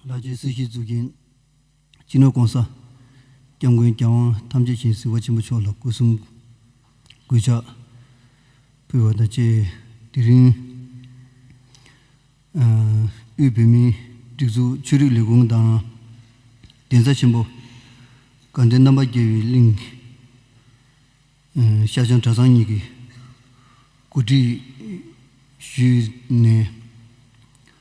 ལྷ་ཆེན་སྲིད་ཞིའི་གཙུག་རྒྱན་སྤྱི་ནོར ྋགོང་ས ྋསྐྱབས་མགོན་རྒྱལ་དབང་ཐམས་ཅད་ཅན་སྲིད་པ་ཆེན་པོ་མཆོག་ལ་སྐུ་གསུམ་སྐུལ་ལྕག་ཕུལ་བ་དང་བཅས་དེ་རིང་དབུས་བོད་མིའི་སྒྲིག་འཛུགས་ཆོས་རིག་ལས་ཁུངས་དང་གདན་ས་ཆེན་པོ་དགའ་ལྡན་རྣམ་པ་རྒྱལ་བའི་གླིང་ཤར་བྱང་གྲྭ་ཚང་གཉིས་ཀྱི་གོ་སྒྲིག་ཞུས་ནས།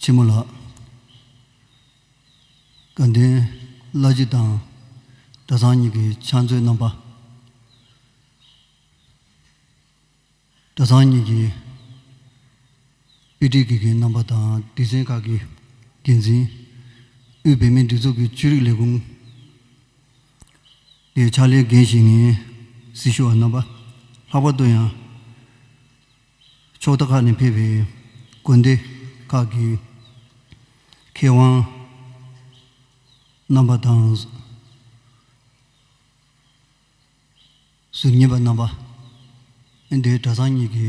ཆེན་མོ་ལགས། དགའ་ལྡན་བླ་སྤྱི་དང་གྲྭ་ཚང་གཉིས་ཀྱི་ཕྱག་མཛོད་རྣམ་པ། གྲྭ་ཚང་གཉིས་ཀྱི་དཔེ་ཁྲིད་དགེ་རྒན་རྣམ་པ་དང་སྡེ་ཚན་ཁག་གི་འགན་འཛིན། དབུས་བོད་མིའི་སྒྲིག་འཛུགས་ཀྱི་ཆོས་རིག་ལས་ཁུངས་ཀྱི་ཕྱག་ལས་འགན་བཞེས་ངེས་སྲི་ཞུ་བ་རྣམ་པ། ལྷག་པར་དུ་ཡང། ཕྱོགས་མཐའ་ཁག་ནས་ཕེབས་པའི་དགོན་སྡེ་ཁག་གི་མཁས་དབང་རྣམ་པ་དང། གཟུར་གཉེར་པ་རྣམ་པ། ཨིན་དྲའི་གྲྭ་ཚང་གཉིས་ཀྱི་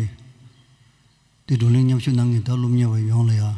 སྡེ་དགྲོ་གླེང་མཉམ་ཞུགས་གནང་མཁན་དག་སློབ་གཉེར་བ་ཡོངས་ལ་ཡང།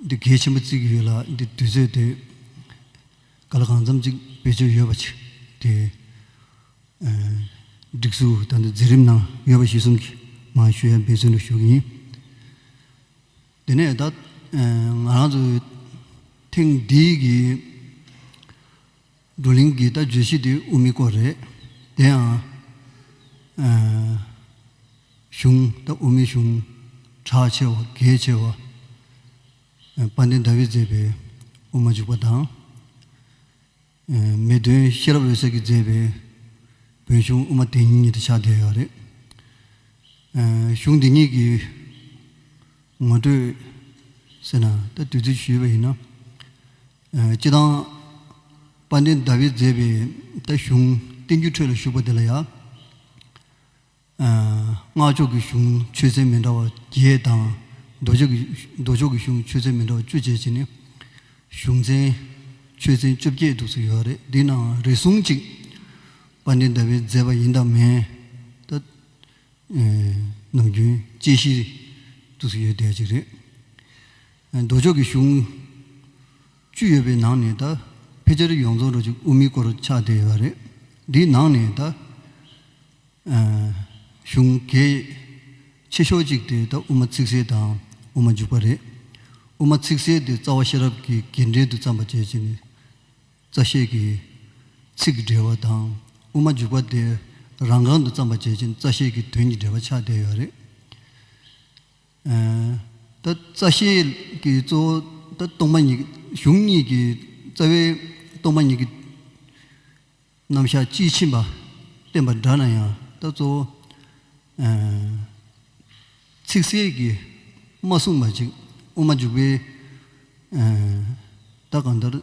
འདི་གལ་ཆེན་པོ་བརྩིགས་ཡོད་ལ་འདི་དུས་ཚོད་དེ་ག་ལ་གང་འཚམས་ཅིག་བེད་སྤྱོད་ཡོད་པ་ཆིག་དེ། སྒྲིག་འཛུགས་དང་འཛིན་རིམ་ནང་ཡོད་པ་གཞི་གསུམ་གྱི་མང་ཤོས་ཡང་འབད་བརྩོན་ལ་ཞུགས་ཡིན། དེ་ནས་ད་ང་རང་ཚོ་ཐེངས་འདིའི་གི། བགྲོ་གླེང་གི་ལྟ་བརྗོད་ཤིག་དེ་དབུ་མའི་སྐོར་རེད། དེའང། གཞུང་ད་དབུ་མའི་གཞུང། གྲགས་ཆེ་བ་གལ་ཆེ་བ། དཔལ་ལྡན་ཟླ་བས་མཛད་པའི་དབུ་མ་འཇུག་པ་དང། མེས་སྟོན་ཤེས་རབ་འོད་གསལ་གྱིས་མཛད་པའི་བོན་གཞུང་དབུ་མ་དེ་གཉིས་དེ་ཆགས་བསྡད་ཡོད་རེད། གཞུང་འདི་གཉིས་ཀྱི་ངོ་སྤྲོད་ཟེར་ན་ད་དུས་ཚོད་ཞུས་པ་ཡིན་ན། སྤྱི་དང། དཔལ་ལྡན་ཟླ་བས་མཛད་པའི་རྟ་གཞུང་བསྟན་འགྱུར་ཁྲོད་ལ་བཞུགས་པ་འདི་ལ་ཡང། སྔགས་ཕྱོགས་ཀྱི་གཞུང་ཆོས་ཚན་མི་འདྲ་བ་བརྒྱད་དང། མདོ་ཕྱོགས་ཀྱི་གཞུང་ཆོས་ཚན་མི་འདྲ་བ་བཅུ་བཅས་བྱས་ནས། གཞུང་ཚན་ཆོས་ཚན་བཅོ་བརྒྱད་འདུག་ཚུལ་ཡོད་པ་རེད། འདི་ནའང་རེ་ཟུང་གཅིག་དཔལ་ལྡན་ཟླ་བས་མཛད་པ་ཡིན་དང་མིན། ད། ནམ་རྒྱུན་དཔྱད་གཞིར་འདུག་ཚུལ་ཡོད་བསྡད་ཅིག་རེད། མདོ་ཕྱོགས་ཀྱི་གཞུང། བཅུ་ཡོད་པའི་ནང་ནས་ད་ཕེ་ཆར་ཡོངས་རྫོགས་རོ་ཅིག་དབུ་མའི་སྐོར་ཆགས་བསྡད་ཡོད་པ་རེད། འདིའི་ནང་ནས་ད། གཞུང་གལ། ཆེ་ཤོས་གཅིག་དེ་ད་དབུ་མ་ཚིག་གསལ་དང་དབུ་མ་འཇུག་པ་རེད། དབུ་མ་ཚིག་གསལ་དེ་རྩ་བ་ཤེས་རབ་ཀྱི་དགེ་འབྲས་དུ་བརྩམས་པ་བཅས་བྱས་ནས། རྩ་ཤེས་ཀྱི། ཚིག་གི་འགྲེལ་བ་དང། དབུ་མ་འཇུག་པ་དེ་རང་རྐང་དུ་བརྩམས་པ་བཅས་བྱས་ནས་རྩ་ཤེས་ཀྱི་དོན་གྱི་འགྲེལ་བ་ཆགས་བསྡད་ཡོད་པ་རེད། ད་རྩ་ཤེས་ཀྱི་གཙོ་བོ་ད་སྟོང་པ་ཉིད་གཞུང་གཉིས་ཀྱི་རྩ་བའི་སྟོང་པ་ཉིད་ཀྱི་རྣམ་གཞག་དཔྱིས་ཕྱིན་པ་བསྟན་པ་འདྲ་ན་ཡང་ད་གཙོ་བོ། ཚིག་གསལ་གྱིས་མ་གསུངས་པ་ཅིག་དབུ་མ་འཇུག་པའི་ད་གང་ལྟར།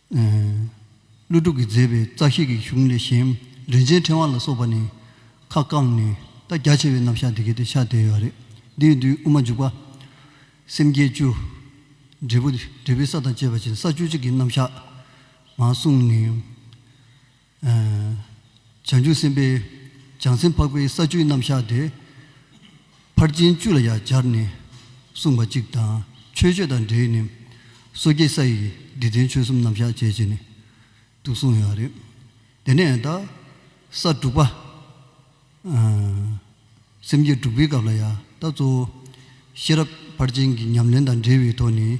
ཀླུ་སྒྲུབ་ཀྱིས་མཛད་པའི་རྩ་ཤེས་ཀྱི་གཞུང་ལས་གཞན་རིན་ཆེན་ཕྲེང་བ་ལ་སོགས་པ་ནི། ཁ་བསྐངས་ནས་རྟ་རྒྱ་ཆེ་བའི་རྣམ་གཞག་འདི་གལ་ཏེ་ཕྱག་དེ་ཡོད་རེད། འདིའི་མདུན་དབུ་མ་འཇུག་པ། སེམས་བསྐྱེད་བཅུ། འབྲས་བུ། འབྲས་བུའི་ས་དང་བཅས་པ་བཞིན་ས་བཅུ་གཅིག་གི་རྣམ་གཞག། ངང་བསྲུངས་ནས། བྱང་ཆུབ་སེམས་དཔའི་བྱང་སེམས་འཕགས་པའི་ས་བཅུའི་རྣམ་གཞག་དེ། ཕར་ཕྱིན་བཅུ་ལ་ཡང་སྦྱར་ནས་གསུངས་པ་གཅིག་དང་ཆོས་སྤྱོད་དང་འབྲེལ་ནས། སོ་སྐྱེ་ས་ཡི་འདི་ལྡན་ཆོས་གསུམ་རྣམ་གཞག་བྱེད་ཅེས་ནི་ཏུ་གསུངས་ཡོད་རེད། དེ་ནས་ད་ས་དྲུག་པ། སེམས་བསྐྱེད་དྲུག་པའི་སྐབས་ལ་ཡང་ད་གཙོ་བོ་ཤེས་རབ་ཕར་ཕྱིན་གྱི་ཉམས་ལེན་དང་འབྲེལ་བའི་ཐོག་ནས།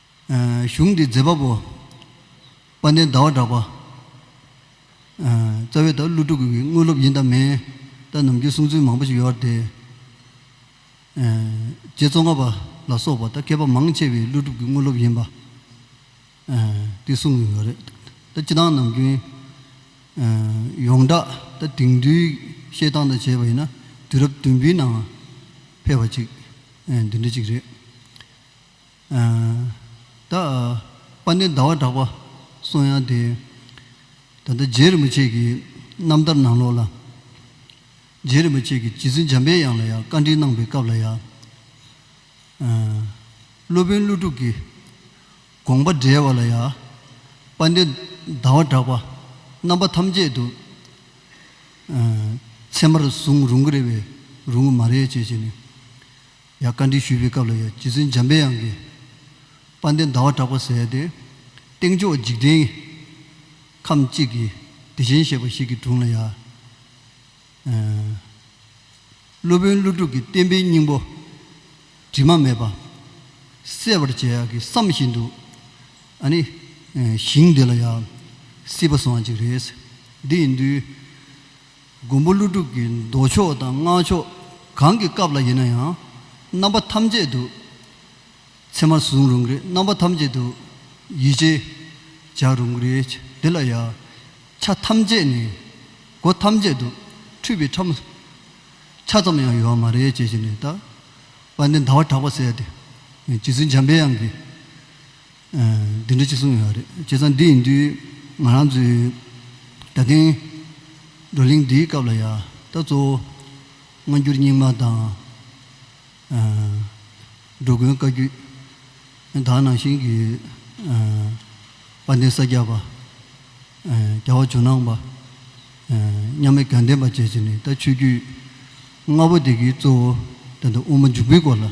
གཞུང་འདི་མཛད་པ་པོ། དཔལ་ལྡན་ཟླ་བ་གྲགས་པ། རྩ་བའི་ད་ཀླུ་སྤྲུལ་སྐུ་གི་དངོས་སློབ་ཡིན་དང་མིན། ད་ནམ་རྒྱུན་གསུང་ཚུལ་མང་པོ་ཞིག་ཡོད་དེ། རྗེ་བཙོང་ཁ་པ་ལ་སོགས་པ་ད་མཁས་པ་མང་ཆེ་བའི་ཀླུ་སྒྲུབ་ཀྱི་དངོས་སློབ་ཡིན་པ། དེ་གསུང་གི་ཡོད་རེད། ད་སྤྱི་དང་ནམ་རྒྱུན། ཡོངས་གྲགས་ད་དེང་དུས་བཤད་སྟངས་དང་བྱས་པ་ཡིན་ན་དུས་རབས་བདུན་པའི་ནང་ཕེབས་པ་ཅིག་འདི་འདྲ་ཅིག་རེད། ད་པ་ནི་ཟླ་བ་གྲགས་པ་གསུང་དབྱངས་དེ། ད་ལྟ་རྗེ་རིན་པོ་ཆེ་གི་རྣམ་ཐར་ནང་ལོགས་ལ། རྗེ་རིན་པོ་ཆེ་གི་རྗེ་བཙུན་འཇམ་པའི་དབྱངས་ལ་ཡང་བཀའ་འདྲི་གནང་པའི་སྐབས་ལ་ཡང། སློབ་དཔོན་ཀླུ་སྒྲུབ་ཀྱི་དགོངས་པ་འགྲེལ་བ་ལ་ཡང། པ་ནི་ཟླ་བ་གྲགས་པ་རྣམ་པ་ཐམས་ཅད་དུ། ཚད་མར་བཟུང་རུང་གི་རེད་བས་རུང་གི་མ་རེད་ཅེས་བྱས་ནས། ཡང་བཀའ་དྲིན་ཞུས་པའི་སྐབས་ལ་ཡང་རྗེ་བཙུན་འཇམ་པའི་དབྱངས་ཀྱིས། དཔལ་ལྡན་ཟླ་བ་གྲགས་པ་ཟེར་ཡ་དེ། སྟེང་ཕྱོགས་འཇིག་རྟེན། ཁམས་གཅིག་གི། བདེ་ཆེན་ཞེས་པ་ཞིག་གི་དྲུང་ལ་ཡང། སློབ་དཔོན་ཀླུ་སྒྲུབ་ཀྱིས་བསྟན་པའི་སྙིང་པོ། དྲི་མ་མེད་པ། གསལ་བར་བྱས་ཡག་གིས་བསམ་བཞིན་དུ། ཨ་ནི། ཞིང་འདི་ལ་ཡང། སྲིད་པ་སོང་བ་ཅིག་རེད། འདི་ཡིན་དུས། མགོན་པོ་ཀླུ་སྒྲུབ་ཀྱི་མདོ་ཕྱོགས་དང་སྔགས་ཕྱོགས་གང་གི་སྐབས་ལ་ཡིན་ན་ཡང་རྣམ་པ་ཐམས་ཅད་དུ། ཚད་མར་བཟུང་རུང་གི་རྣམ་པ་ཐམས་ཅད་དུ། ཡིད་ཆེས་བྱ་རུང་གི། དེ་ལ་ཡང། ཆ་ཐམས་ཅད་ནི། སྒོ་ཐམས་ཅད་དུ། འཁྲུལ་པའི་ཁྲམ། ཆ་ཙམ་ཡང་ཡོད་མ་རེད་ཅེས་བྱས་ནས་བརྟག། པ་འདི་ཟླ་བ་གྲགས་པ་ཟད་དེ། ཇི་སྲིད་འཇམ་པའི་དབྱངས་ཀྱིས། འདི་འདྲ་ཅིག་གསུངས་ཡོད་རེད་བྱས་ཙང་འདི་ཡིན་དུས་ང་རང་ཚོའི་ད་ཐེངས་བགྲོ་གླེང་འདིའི་སྐབས་ལ་ཡ་ད་གཙོ་བོ་སྔ་འགྱུར་རྙིང་མ་དང། འགྲོ་མགོན་བཀའ་བརྒྱུད། དང་ནང་བཞིན་གྱི་དཔལ་ལྡན་ས་སྐྱ་པ། རྒྱལ་བ་ཇོ་ནང་པ། མཉམ་མེད་དགའ་ལྡན་པ་བཅས་ཀྱིས་ནི་ད་ཆོས་བརྒྱུད་ལྔ་པོ་དེ་གའི་གཙོ་བོ་དེ་འདྲ་དབུ་མ་འཇུག་པའི་སྐོར་ལ་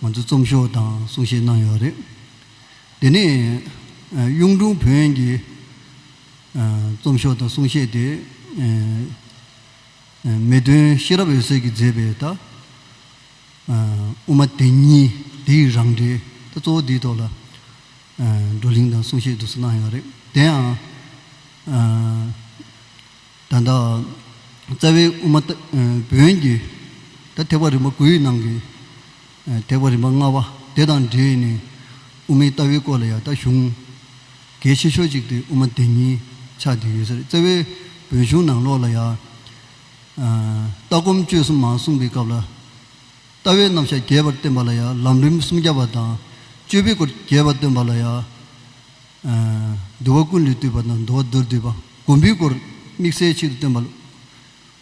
ང་ཚོས་རྩོམ་ཤོག་དང་གསུང་བཤད་གནང་ཡོད་རེད། དེ་ནས་གཡུང་དྲུང་བོན་གྱི་རྩོམ་ཤོག་དང་གསུང་བཤད་དེ། མེ་སྟོན་ཤེས་རབ་འོད་ཟེར་གྱིས་མཛད་པའི་ད་དབུ་མ་དེ་ཉིད་དེའི་རང་འགྲེལ་ད་གཙོ་བོ་དེའི་ཐོག་ལ། བགྲོ་གླེང་དང་གསུང་བཤད་བསྡུ་གསོལ་གནང་ཡོད་རེད། དེ་ཡང། ད་ལྟ། རྩ་བའི་དབུ་མ། བོན་བརྒྱུད། ད་ཐེག་པ་རིམ་པ་དགུ་ཡི་ནང་གི། ཐེག་པ་རིམ་པ་ལྔ་བ་དེ་དང་འབྲེལ་ནས། དབུ་མའི་ལྟ་བའི་སྐོར་ལ་ཡང་ད་གཞུང། གལ་ཆེ་ཤོས་ཅིག་དེ་དབུ་མ་དེ་ཉིད་ཆགས་བསྡད་ཡོད་ས་རེད། རྩ་བའི་བོན་གཞུང་ནང་ལོགས་ལ་ཡང། ལྟ་སྒོམ་སྤྱོད་གསུམ་མ་གསུངས་པའི་སྐབས་ལ། ལྟ་བའི་རྣམ་གཞག་རྒྱས་པར་བསྟན་པ་ལ་ཡང་ལམ་རིམ་སུམ་བརྒྱ་པ་དང། སྤྱོད་པའི་སྐོར་རྒྱས་པར་སྟོན་པ་ལ་ཡང། འདུལ་བ་ཀུན་ལས་བཏུས་པ་དང་འདུལ་བ་མདོར་བསྡུས་པ། སྒོམ་པའི་སྐོར་དམིགས་བསལ་ཆེད་དུ་སྟོན་པ།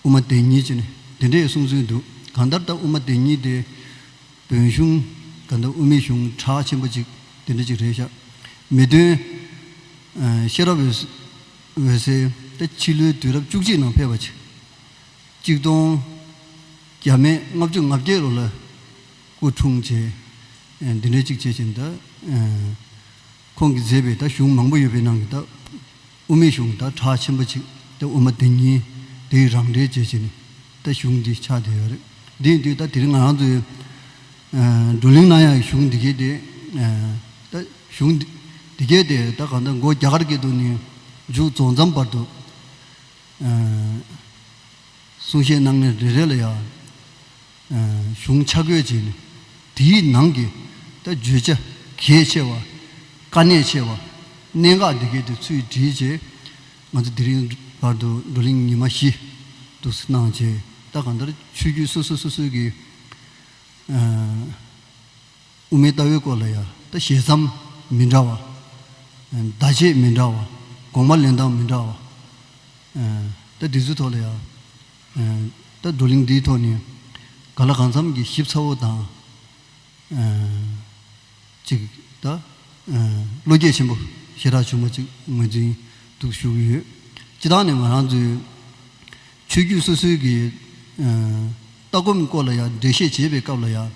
དབུ་མ་བདེན་གཉིས་ཀྱི་ནི་འདི་འདྲའི་གསུང་ཚུལ་འདུག་གང་ལྟར་ད་དབུ་མ་བདེན་གཉིས་དེ། བོན་གཞུང། གང་ལྟར་དབུ་མའི་གཞུང་གྲགས་ཆེན་པོ་གཅིག་དེ་འདྲ་ཅིག་རེད་ཤག། མི་དོན། ཤེས་རབ་འོད་ཟེར། ད་ཕྱི་ལོའི་དུས་རབས་བཅུ་གཅིག་ནང་ཕེབས་པ། གཅིག་སྟོང། རྒྱ་མའི་ལྔ་བཅུ་ང་བརྒྱད་ལོ་ལ་སྐུ་འཁྲུངས་རྗེས་འདི་འདྲའི་ཅིག་བྱེད་ཅིང་དང། ཁོང་གིས་མཛད་པའི་དང་གཞུང་མང་པོ་ཡོད་པའི་ནང་གི་དང་དབུ་མའི་གཞུང་དང་གྲགས་ཆེན་པོ་གཅིག་དང་དབུ་མ་དེ་ཉིད་དེའི་རང་འགྲེལ་བྱེད་ཅིང་དང་གཞུང་འདི་ཆགས་བསྡད་ཡོད་རེད། དེ་ཡིན་དུས་དང་དེ་རིང་ང་རང་ཚོའི་བགྲོ་གླེང་ནང་ཡང་གཞུང་འདི་སྐད་དེ་དང་གཞུང་འདི་སྐད་དེ་དང་གང་ལྟར་མགོ་རྒྱ་གར་སྐད་དུ་ནས་མཇུག་རྫོགས་མཚམས་བར་དུ། གསུང་བཤད་གནང་མཁན་རེ་རེ་ལ་ཡང་གཞུང་ཆ་བགོས་བྱས་ནས་དེའི་ནང་གི་བརྗོད་བྱ་གལ་ཆེ་བ། དཀའ་གནད་ཆེ་བ། གནད་འགག་འདི་གའི་དེ་ཚུལ་བྲིས་རྗེས་ང་ཚོ་དེ་རིང་བར་དུ་བགྲོ་གླེང་ཉི་མ་བཞི་དུ་གནང་རྗེས་ད་གང་ལྟར་ཆོས་བརྒྱུད་སོ་སོ་སོ་སོའི་གི། དབུ་མའི་ལྟ་བའི་སྐོར་ལ་ཡང་ད་ཞལ་མཚམས་མི་འདྲ་བ། བརྡ་ཆད་མི་འདྲ་བ། དགོངས་པ་ལེན་སྟངས་མི་འདྲ་བ། ད་འདི་ཚོའི་ཐོག་ལ་ཡང། ད་བགྲོ་གླེང་འདིའི་ཐོག་ནས་ག་ལ་གང་འཚམས་ཀྱིས་ཞིབ་ཚགས་པོ་དང། ཅིག་ད་བློ་སྐྱེད་ཆེན་པོ་ཞེ་དྲག་བྱུང་བ་ཅིག་ངོས་འཛིན་ཏུ་ཞུགས་ཡོད། སྤྱི་ལྟང་ནས་ང་རང་ཚོའི་ཆོས་བརྒྱུད་སོ་སོའི་གི་ལྟ་སྒོམ་སྐོར་ལ་ཡང་འགྲེལ་བཤད་བྱེད་པའི་སྐབས་ལ་ཡང།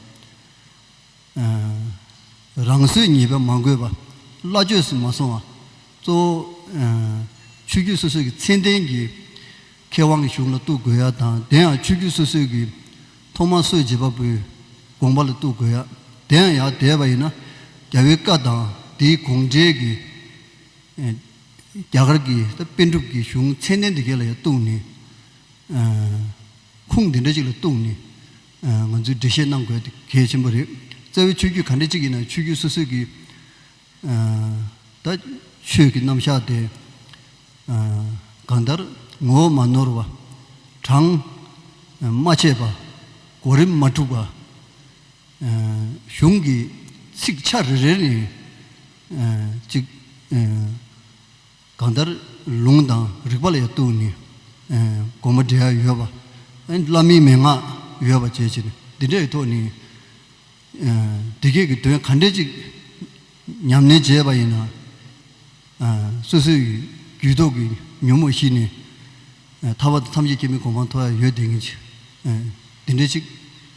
རང་བཟོས་ཉེས་པའི་མ་འགོས་པ། སླ་བཅོས་སུ་མ་སོང་བ། གཙོ་བོ། ཆོས་བརྒྱུད་སོ་སོ་ཀྱི་ཚད་ལྡན་གྱི་མཁས་དབང་གི་གཞུང་ལ་གཏུགས་དགོས་ཡ་དང་དེ་ཡང་ཆོས་བརྒྱུད་སོ་སོའི་གི་ཐོག་མར་སོ་བྱེད་པ་པོའི་དགོངས་པ་ལ་གཏུགས་དགོས་ཡ། དེ་ཡང་ཡང་དེས་པ་ཡིན་ན་རྒྱལ་བོའི་བཀའ་དང་དེའི་དགོངས་འགྲེལ་གྱི། རྒྱ་གར་གྱི་དཔེ་སྒྲུབ་ཀྱི་གཞུང་ཚད་ལྡན་དེ་གའི་ལ་ཡང་གཏུགས་ནས། ཁུངས་དེ་འདྲ་ཅིག་ལ་གཏུགས་ནས་ང་ཚོས་འགྲེལ་བཤད་གནང་དགོས་གལ་ཆེན་པོ་རེད། རྩ་བའི་ཆོས་བརྒྱུད་ག་འདྲ་གཅིག་ཡིན་ནའང་ཆོས་བརྒྱུད་སོ་སོས་ཀྱི་ད་ཆོས་ཀྱི་རྣམ་གཞག་དེ་གང་ལྟར་ངོ་བོ་མ་ནོར་བ། གྲངས་མ་ཆད་པ། གོ་རིམ་མ་འཁྲུགས་པ། གཞུང་གི་ཚིག་ཆ་རེ་རེ་ནས་ཅིག། གང་ལྟར་ལུང་དང་རིགས་པ་ལ་ཡང་གཏུགས་ནས་དགོངས་པ་འགྲེལ་ཡ་ཡོད་པ། བླ་མའི་མན་ངག་ཡོད་པ་བཅས་བྱས་ནས་འདི་འདྲའི་ཐོག་ནས། དེ་སྐད་ཀྱི་དོན་ག་འདྲའི་ཅིག་ཉམས་ལེན་བྱས་པ་ཡིན་ན། སོ་སོའི་རྒྱུད་ཐོག་གི་ཉོན་མོངས་ཞི་ནས། ཐར་བ་དང་ཐམས་ཅད་སྐྱེ་མེད་གོ་འཕང་མཐོ་བ་ཡོད་དེ་ངེས། འདི་འདྲའི་ཅིག།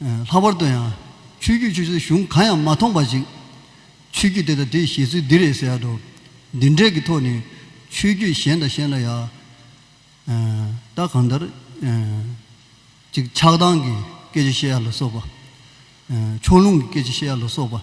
ལྷག་པར་དུ་ཡང། ཆོས་བརྒྱུད་ཆུ་ཚོད་གཞུང་གང་ཡང་མ་མཐོང་པ་ཞིག། ཆོས་བརྒྱུད་དེ་དང་དེའི་བཞེད་ཚུལ་འདི་རེད་ཟེར་ཡག་འགྲོ། འདི་འདྲས་ཀྱི་ཐོག་ནས། ཆོས་བརྒྱུད་གཞན་དང་གཞན་ལ་ཡག། ད་གང་ལྟར། ཅིག་ཆགས་སྡང་གི་སྐད་ཆ་བཤད་ཡ་ལ་སོགས་པ། ཕྱོགས་ལྷུང་གི་སྐད་ཆ་བཤད་ཡ་ལ་སོགས་པ།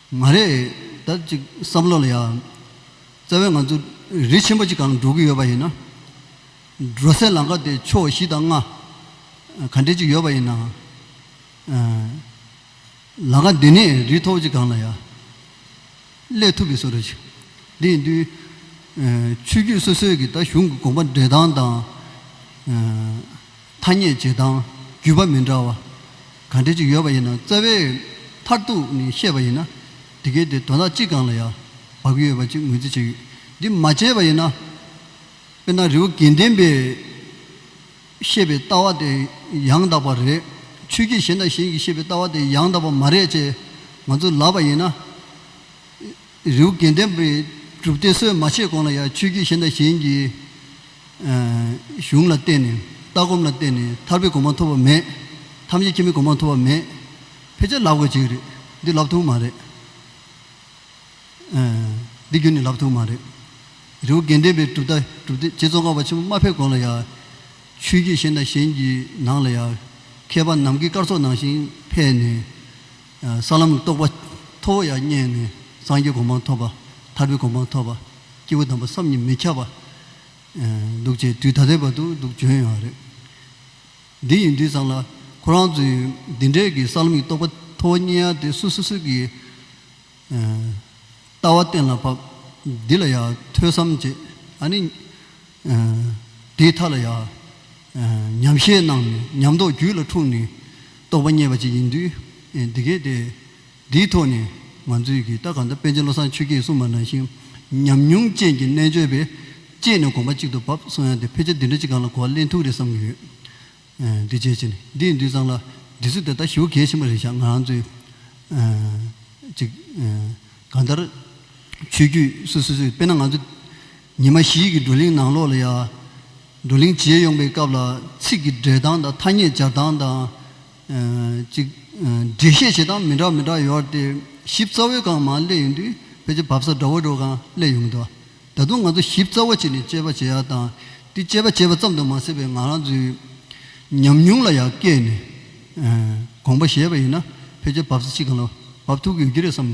མ་རེད་ད་ཅིག་བསམ་བློ་ལ་ཡ། རྩ་བའི་ང་ཚོ་རི་ཆེན་པོ་གཅིག་གང་འགྲོ་གི་ཡོད་པ་ཡིན་ན། འགྲོ་སའི་ལམ་ཁ་དེ་ཕྱོགས་བཞི་དང་ལྔ། ག་འདྲས་ཅིག་ཡོད་པ་ཡིན་ན། ལམ་ཁ་འདི་ནས་རི་མཐོ་བོ་གཅིག་གང་ལ་ཡ། སླེབས་ཐུབ་པའི་བཟོ་རེ་བྱེད། དེ་ཡིན་དུས། ཆོས་བརྒྱུད་སོ་སོའི་གིས་ད་གཞུང་གི་དགོངས་པ་འགྲེལ་སྟངས་དང། ཐ་སྙད་བྱེད་སྟངས་བརྒྱུད་པ་མི་འདྲ་བ་ག་འདྲ་ཅིག་ཡོད་པ་ཡིན་ན་རྩ་བའི་མཐར་གཏུགས་ནས་བཤད་པ་ཡིན་ན། དེ་གའི་དེ་དོན་དག་གཅིག་གང་ལ་ཡང་བབ་ཀྱི་ཡོད་པ་ཅིག་ངོས་འཛིན་བྱས་ཡོད། འདི་མ་བྱས་པ་ཡིན་ན། དཔེར་ན་རི་བོ་དགེ་ལྡན་པས་བཤད་པའི་ལྟ་བ་དེ་ཡང་དག་པ་རེད། ཆོས་བརྒྱུད་གཞན་དང་གཞན་གྱིས་བཤད་པའི་ལྟ་བ་དེ་ཡང་དག་པ་མ་རེད་ཅེས་ང་ཚོས་ལབ་པ་ཡིན་ན། རེའུ་དགེ་ལྡན་པའི་སྒྲུབ་སྡེ་སྲོལ་མ་ཕྱེས་གོང་ལ་ཡང་ཆོས་བརྒྱུད་ཤེས་ལྡན་གཞན་གྱི་གཞུང་ལ་བརྟེན་ནས་ལྟ་སྒོམ་ལ་བརྟེན་ནས་ཐར་པའི་གོ་འཕང་ཐོབ་པ་མེད། ཐམས་ཅད་ཁྱིམ་མིའི་གོ་འཕང་ཐོབ་པ་མེད། ཕལ་ཆེར་ལབ་དགོས་གཅིག་རེད། འདི་ལབ་ཐུབ་མ་རེད། འདི་རྒྱུན་ནས་ལབ་ཐུབ་མ་རེད། རེའུ་དགེ་ལྡན་པའི་སྒྲུབ་སྡེ་རྗེ་ཙོང་ཁ་པ་ཆེན་པོ་མ་ཕེབས་གོང་ལ་ཡང་ཆོས་བརྒྱུད་ཤེས་ལྡན་གཞན་གྱི་ནང་ལ་ཡང་མཁས་པ་ནམ་མཁའི་སྐར་ཚོགས་ནང་བཞིན་ཕེབས་ནས་ས་ལམ་གྱི་རྟོགས་པ་མཐོ་བོ་ཡང་རྙེད་ནས་སངས་རྒྱས་གོ་འཕང་ཐོབ་པ། ཐར་པའི་གོ་འཕང་ཐོབ་པ། སྐྱེས་བུ་དམ་པ་བསམ་གྱིས་མི་ཁྱབ་པ། འདུག་ཅེས་དུས་ཐ་དད་པ་དུ་འདུག་བྱོན་ཡོད་རེད། འདི་ཡིན་དུས་ཙམ་ལ་ཁོ་རང་ཚོའི་འདི་འདྲའི་གི་ས་ལམ་གྱི་རྟོགས་པ་མཐོ་བོ་རྙེད་ཡ་དེ་སུ་སུ་སུ་གི་ལྟ་བ་གཏན་ལ་ཕབ། འདི་ལ་ཡང་ཐོས་བསམ་བྱེད། ཨ་ནི། དེའི་མཐའ་ལ་ཡང། ཉམས་བཞེས་རྣམས་ཉམས་རྟོགས་རྒྱུད་ལ་འཁྲུངས་ནས་རྟོགས་པ་རྙེད་པ་ཅིག་ཡིན་དུས། འདི་སྐད་དེ། འདིའི་ཐོག་ནས་ང་ཚོས་ཀྱིས་ད་ག་ཟླ་པཎ་ཆེན་བློ་བཟང་ཆོས་སྐྱིད་གསུངས་པ་ནང་བཞིན་ཉམས་མྱོང་ཅན་གྱི་རྣལ་འབྱོར་པས་དཔྱད་ནས་དགོངས་པ་གཅིག་ཏུ་བབས་སོང་ཡང་དེ་ཕལ་ཆེར་འདི་འདྲ་ཅིག་གང་ལ་གོ་བ་གླེང་ཐུག་རེད་བསམ་གྱི་ཡོད། འདི་བྱས་ཕྱིར་འདིའི་འདུས་གཙང་ལ་འདི་ཚོས་དེ་ལྟར་ཞུ་གལ་ཆེན་པོ་རེད་བཞག་ང་རང་ཚོས། ཅིག། གང་ལྟར། ཆོས་བརྒྱུད་སུ་སུ་ཚོས་དཔེར་ན་ང་ཚོ། ཉི་མ་བཞི་གི་བགྲོ་གླེང་ནང་ལོགས་ལ་ཡང། བགྲོ་གླེང་བྱེད་ཡོང་པའི་སྐབས་ལ་ཚིག་གི་སྦྲེལ་སྟངས་དང་ཐ་སྙད་སྦྱར་སྟངས་དང། ཅིག། འགྲེལ་བཤད་བྱེད་སྟངས་མི་འདྲ་མི་འདྲ་ཡོད་དེ། ཞིབ་རྩ་བའི་སྒང་མང་གླས་ཡོང་དུས་ཕལ་ཆེར་བབས་ས་འདྲ་བོ་འདྲ་བོ་གང་གླས་ཡོང་གི་འདུག་ད་དུང་ང་ཚོ་ཞིབ་རྩ་བ་བྱས་ནས་དཔྱད་པ་བྱེད་ཡག་དང། དེ་དཔྱད་པ་བྱས་པ་ཙམ་དུ་མ་ཟད་པའི་ང་རང་ཚོའི། ཉམས་མྱོང་ལ་ཡང་བཀལ་ནས། དགོངས་པ་བཞེས་པ་ཡིན་ན་ཕལ་ཆེར་བབས་ས་ཅི་གང་ལ་བབས་ཐུབ་ཀྱི་ཡོད་ཀྱི་རེད་བསམ།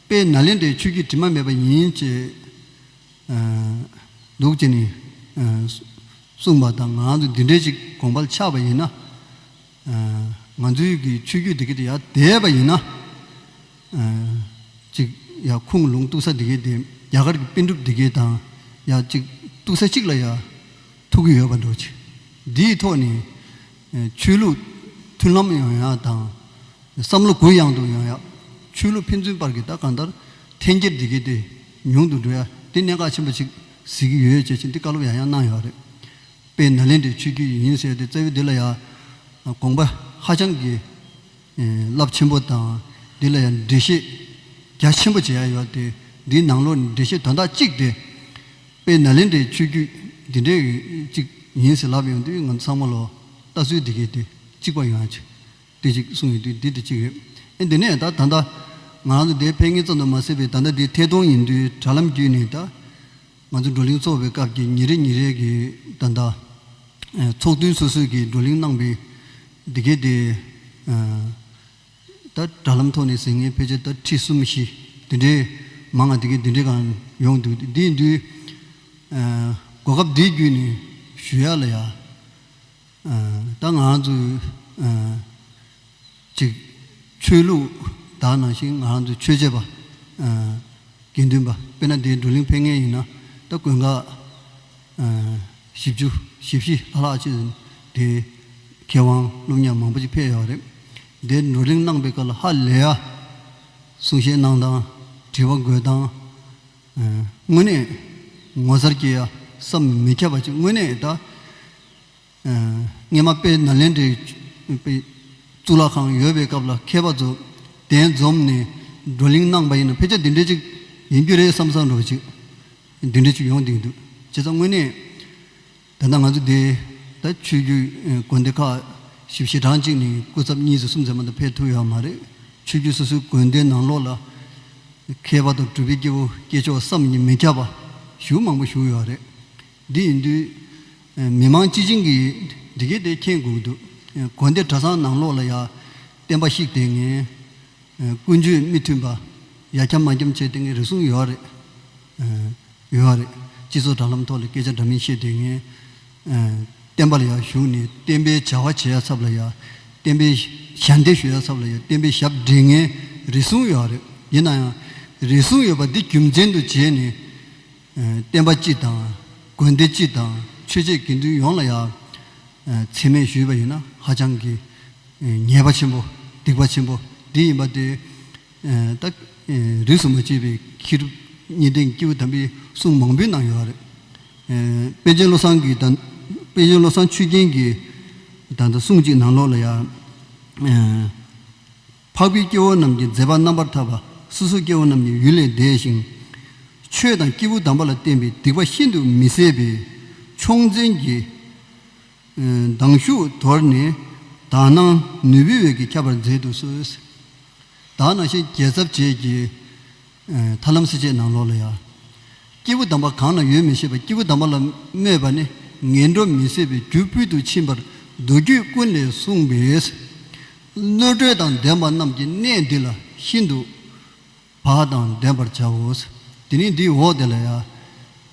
དཔེ་ན་ལེན་དེ་ཆོས་ཀྱི་དྲི་མ་མེད་པ་ཡིན། ཅེས་འདུག་ཅེས་ནི། གསུངས་པ་དང་ང་ཚོ་འདི་འདྲའི་ཞིག་དགོངས་པར་ཆགས་པ་ཡིན་ན། ང་ཚོའི་གི་ཆོས་བརྒྱུད་འདི་གའི་དེ་ཡར་འདེད་པ་ཡིན་ན། ཅིག་ཡར་ཁུངས་ལུང་གཏུགས་ས་འདི་གའི་དེ་རྒྱ་གར་གྱི་དཔེ་འགྲུབ་འདི་གའི་དང་ཡར་ཅིག་གཏུགས་ས་གཅིག་ལ་ཡར་ཐུག་གི་ཡོད་པར་འགྲོ། ཅིག་འདིའི་ཐོག་ནས། ཆོས་ལུགས་མཐུན་ལམ་ཡོང་ཡག་དང། བསམ་བློ་གུ་ཡངས་དུ་ཡོང་ཡག། ཆོས་ལུགས་ཕན་ཚུན་བར་གྱི་ད་གང་ལྟར་འཐེན་འཁྱེར་འདི་གས་དེ་ཉུང་དུ་འགྲོ་ཡ་དེ་གནད་འགག་ཆེན་པོ་ཞིག་གཟིགས་ཀྱི་ཡོད་ཅེས་ཆིན་ཏི་བཀའ་སློབ་ཡང་ཡང་གནང་ཡོད་རེད། པས་ན་ལན་དེ་ཆོས་བརྒྱུད་ཡིན་ཟེར་ཏེ་རྩ་བའི་འདི་ལ་ཡང་དགོངས་པ་ཧ་ཅང་གི་རླབས་ཆེན་པོ་དང་འདི་ལ་ཡང་འགྲེལ་བཤད་རྒྱ་ཆེན་པོ་བྱེད་ཡ་ཡོད་དེ་འདིའི་ནང་ལོགས་ནས་འགྲེལ་བཤད་དོན་དག་གཅིག་དེ། དཔེ་ན་ལེན་འདྲའི་ཆོས་བརྒྱུད་འདི་འདྲའི་གཅིག་ཡིན་ཟེར་ལབ་ཡོང་དུས་ང་ཚང་མ་ལོ་ལྟ་ཚུལ་འདི་གས་དུས་གཅིག་པ་ཡོང་ཆེ་དེ་གཅིག་གསུང་ཡོང་དུས་འདི་དེ་གཅིག་རེད་ཨེ་འདི་ནས་ད་ད་ལྟ་ང་རང་ཚོ་དེ་ཕན་ངེས་ཙམ་དུ་མ་སེལ་བའི་ད་ལྟ་འདི་ཐད་གཏོང་ཡིན་དུས་དྲ་ལམ་བརྒྱུད་ནས་ད་ང་ཚོ་བགྲོ་གླེང་ཚོགས་པའི་སྐབས་ཀྱི་ཉིན་རེ་ཉིན་རེ་གི་ད་ད་ཚོགས་ཐུན་སོ་སོས་ཀྱི་བགྲོ་གླེང་གནང་པའི་འདི་གས་དེ། ད་དྲ་ལམ་ཐོག་ནས་ཟིན་ངེས་ཕལ་ཆེར་ད་ཁྲི་གསུམ་བཞི་དེ་འདྲའི་མང་ང་དེ་གའི་དེ་འདྲའི་གང་ཡོང་འདུག་དེ་འདིའི་འདུས། གོ་སྐབས་འདི་བརྒྱུད་ནས་ཞུ་ཡག་ལ་ཡག། ད་ང་ཚོས་ཅིག་ཆོས་ལུགས་དག་ནང་བཞིན་ང་ཚོ་ཆོས་བྱེད་པ། དགེ་འདུན་པ་དཔེར་ན་འདིའི་བགྲོ་གླེང་ཕེབས་ངེས་ཡིན་ན་ད་དགོན་ཁག། བཞི་བཅུ་བཞི་བཞི་ལྷག་ལྷག་ཅིག་འདི། མཁས་དབང་ཀླུ་མཉམ་མང་པོ་ཅིག་ཕེབས་ཡོད་རེད། འདིར་བགྲོ་གླེང་གནང་པའི་སྐོར་ལ་ཧ་ལས་ཡ། གསུང་བཤད་གནང་སྟངས་དྲི་བ་འགོད་སྟངས། དངོས་གནས་ངོ་མཚར་སྐྱེ་ཡ་བསམ་མི་ཁྱབ་པ་ཅིག་དངོས་གནས་ད། སྔས་མ་དཔལ་ནཱ་ལེནྡྲའི་གཙུག་ལག་ཁང་ཡོད་པའི་སྐབས་ལ་མཁས་པ་རྫོགས་ལྡན་འཛོམས་ནས་བགྲོ་གླེང་གནང་པ་ཡིན་ན་ཕལ་ཆེར་འདི་འདྲའི་ཅིག་ཡིན་རྒྱུ་རེད་བསམ་བསམ་རོགས་གྱིས། འདི་འདྲའི་ཅིག་ཡོང་དུས་འདུག་བྱས་ཙང་དངོས་གནས་ད་ལྟ་ང་ཚོ་འདིའི་ད་ཆོས་རྒྱུད་དགོན་སྡེ་ཁག་བཞི་བཞི་གྲངས་གཅིག་ནས་སྐུ་ཚབ་གཉིས་སུ་གསུམ་ཚད་མ་དུ་ཕེབས་ཐུབ་ཡོད་མ་རེད་ཆོས་རྒྱུད་སོ་སོའི་དགོན་སྡེའི་ནང་ལོགས་ལ་མཁས་པ་དང་གྲུབ་པའི་སྐྱེ་བོ་སྐྱེས་མཆོག་བསམ་གྱིས་མི་ཁྱབ་པ་བཞུགས་མང་པོ་བཞུགས་ཡོད་རེད། འདི་ཡིན་དུས། མི་དམངས་སྤྱི་བྱིངས་ཀྱིས་འདི་སྐད་དེ་མཁྱེན་དགོས་འདུག་དགོན་སྡེ་གྲྭ་ཚང་ནང་ལོགས་ལ་ཡ། བསྟན་པ་ཞིག་དེ་ངན། ཀུན་སྤྱོད་མི་མཐུན་པ། ཡ་འཁྱམ་མ་འཁྱམ་བྱས་དེ་ངན་རེ་ཟུང་ཡོད་རེད། ཡོད་རེད། སྤྱི་ཚོགས་དྲ་ལམ་ཐོག་ལ་སྐད་ཆ་འདྲ་མིན་བཤད་དེ་ངན། བསྟན་པ་ལ་ཡ་ཞུགས་ནས་བསྟན་པའི་བྱ་བ་བྱེད་ཡ་ཚབ་ལ་ཡ། བསྟན་པའི་ཞལ་འདེབས་ཞུ་ཡ་ཚབ་ལ་ཡ་བསྟན་པའི་ཞབས་འདྲེན་ངན་རེ་ཟུང་ཡོད་རེད། ཡིན་ན་ཡང། རེ་ཟུང་ཡོད་པ་འདི་རྒྱུ་མཚན་དུ་བྱས་ནས། བསྟན་པ་སྤྱི་དང། དགོན་སྡེ་སྤྱི་དང་ཆོས་བྱེད་དགེ་འདུན་ཡོངས་ལ་ཡང། འཚེ་མེད་ཞུས་པ་ཡིན་ན་ཧ་ཅང་གི། ཉེས་པ་ཆེན་པོ་སྡིག་པ་ཆེན་པོ་འདི་ཡིན་པ་དེ། ད། རིས་སུ་མ་ཆད་པའི་ཁྱི་རུ་གཉིས་ལྡན་ཀེའུ་དམ་པའི་གསུང་མང་པོའི་ནང་ཡོད་པ་རེད། པཎ་ཆེན་བློ་བཟང་གི། པན་ཆེན་བློ་བཟང་ཆོས་རྒྱན་གྱི། ད་ལྟ་གསུང་གཅིག་ནང་ལོགས་ལ་ཡང། འཕགས་པའི་སྐྱེ་བོ་རྣམས་ཀྱི་མཛད་པ་རྣམ་པར་དག་པ་སོ་སོ་སྐྱེ་བོ་རྣམས་ཀྱི་ཡུལ་ལས་འདས་ཤིང། ཆོས་དང་སྐྱེས་བུ་དམ་པ་ལ་བརྟེན་པའི་སྡིག་པ་ཤིན་ཏུ་མི་བཟད་པས་ཕྱོགས་འཛིན་གྱི། མདངས་ཤུགས་དོར་ནས་དག་སྣང་ནུས་པའི་འོད་ཀྱིས་ཁྱབ་པར་མཛད་དུ་གསོལ། དག་སྣང་ཤེས་བརྒྱད་ཚབ་བྱེད་ཀྱི། ཐར་ལམ་སྲིད་བྱས་ནང་ལོགས་ལ་ཡ། སྐྱེས་བུ་དམ་པ་གང་ན་ཡོད་མི་ཤེས་པ་སྐྱེས་བུ་དམ་པ་ལ་སྨོད་པ་ནི་ངན་འགྲོ་མི་བཟད་པའི་རྒྱུ་སྤུས་དུ་ཕྱིན་པར་མདོ་རྒྱུད་ཀུན་ལས་གསུངས་པས། གནོད་བགྲོད་དང་ལྡན་པ་རྣམས་ཀྱི་གནས་འདི་ལ་ཤིན་ཏུ་བག་དང་ལྡན་པར་བྱའོ། དེ་ནས་འདིའི་འོག་དེ་ལ་ཡ།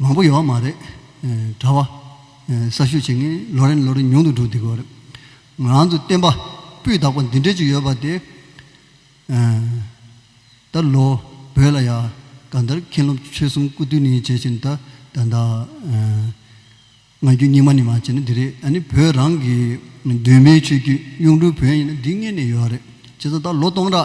མང་པོ་ཡོད་བ་མ་རེད། གྲྭ་བ། གསར་ཞུགས་བྱེད་མཁན་ལོ་རེ་ནས་ལོ་རེ་ཉུང་དུ་འགྲོ་བསྡད་དགོས་རེད། ང་རང་ཚོའི་བསྟན་པ་སྤུས་དག་པ་འདི་འདྲའི་ཅིག་ཡོད་པ་དེ། ད་ལོ་བོད་ལ་ཡ་ག་འདར་མཁན་སློབ་ཆོས་གསུམ་སྐུ་དུས་ནས་བྱེད་བཞིན་ད་ད་ད། ང་རྒྱུ་སྙིགས་མ་ནི་མ་བྱེད་ན་འདི་རེད་ཨ་ནི་བོད་རང་གི་གདོད་མའི་ཆོས་རྒྱུད་གཡུང་དྲུང་བོན་ཡིན་ན་འདི་ངེས་ནས་ཡོད་རེད་བྱས་ཙང་ད་ལོ་སྟོང་ཕྲག།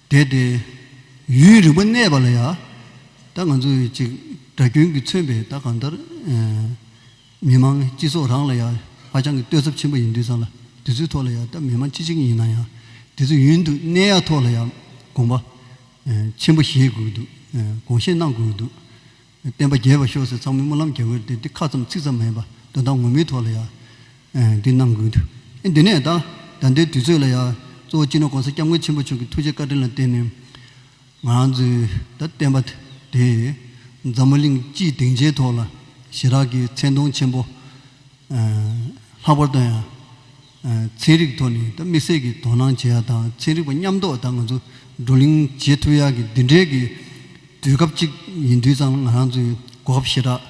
དེ་སྟེ། ཡུན་རིང་པོ་གནས་པ་ལ་ཡང། ད་ང་ཚོ་ཡིས་ཅིག་དགྲ་རྒྱུན་གྱིས་མཚོན་པའི་ད་གང་ལྟར། མི་དམངས་སྤྱི་ཚོགས་རང་ལ་ཡང་ཧ་ཅང་གི་གཏོད་ཚབས་ཆེན་པོ་ཡིན་དུས་ཙམ་ལ་དེ་ཚོའི་ཐོག་ལ་ཡང་ད་མི་དམངས་སྤྱི་གཅིག་ཡིན་ན་ཡང་དེ་ཚོ་ཡུན་དུ་གནས་ཡག་ཐོག་ལ་ཡང་དགོངས་པ། ཆེན་པོ་བཞེས་དགོས་འདུག་དགོངས་བཞེས་གནང་དགོས་འདུག། བསྟན་པ་རྒྱས་པར་ཤོག་ཟེར་ཚང་མས་སྨོན་ལམ་རྒྱག་གི་རེད་འདི་ཁ་ཙམ་ཚིག་ཙམ་མིན་པར་དོན་དག་ངོ་མའི་ཐོག་ལ་ཡང་འདི་གནང་དགོས་འདུག་འདི་ནས་ད་ད་ལྟའི་དུས་ཚོད་ལ་ཡང་གཙོ་བོ་སྤྱི་ནོར ྋགོང་ས ྋསྐྱབས་མགོན་ཆེན་པོ་མཆོག་གི་ཐུགས་རྗེ་བཀའ་དྲིན་ལ་བརྟེན་ནས་ང་ཚོའི་ད་བསྟན་པ་དེ་འཛམ་བུ་གླིང་སྤྱིའི་སྡིངས་ཆའི་ཐོག་ལ་ཞི་རགས་ཀྱི་མཚན་མཐོང་ཆེན་པོ་ལྷག་པར་དུ་ཡང་ཚན་རིག་ཐོག་ནས་དམིགས་བསལ་གྱི་དོ་སྣང་བྱེད་ཡག་དང་ཚན་རིག་པ་མཉམ་འདོགས་དང་ང་ཚོ་བགྲོ་གླེང་བྱེད་ཐུབ་ཡག་གི་འདི་འདྲའི་གི་དུས་སྐབས་ཅིག་ཡིན་དུས་ཙང་ང་རང་ཚོའི་གོ་སྐབས་ཞེ་དྲགས་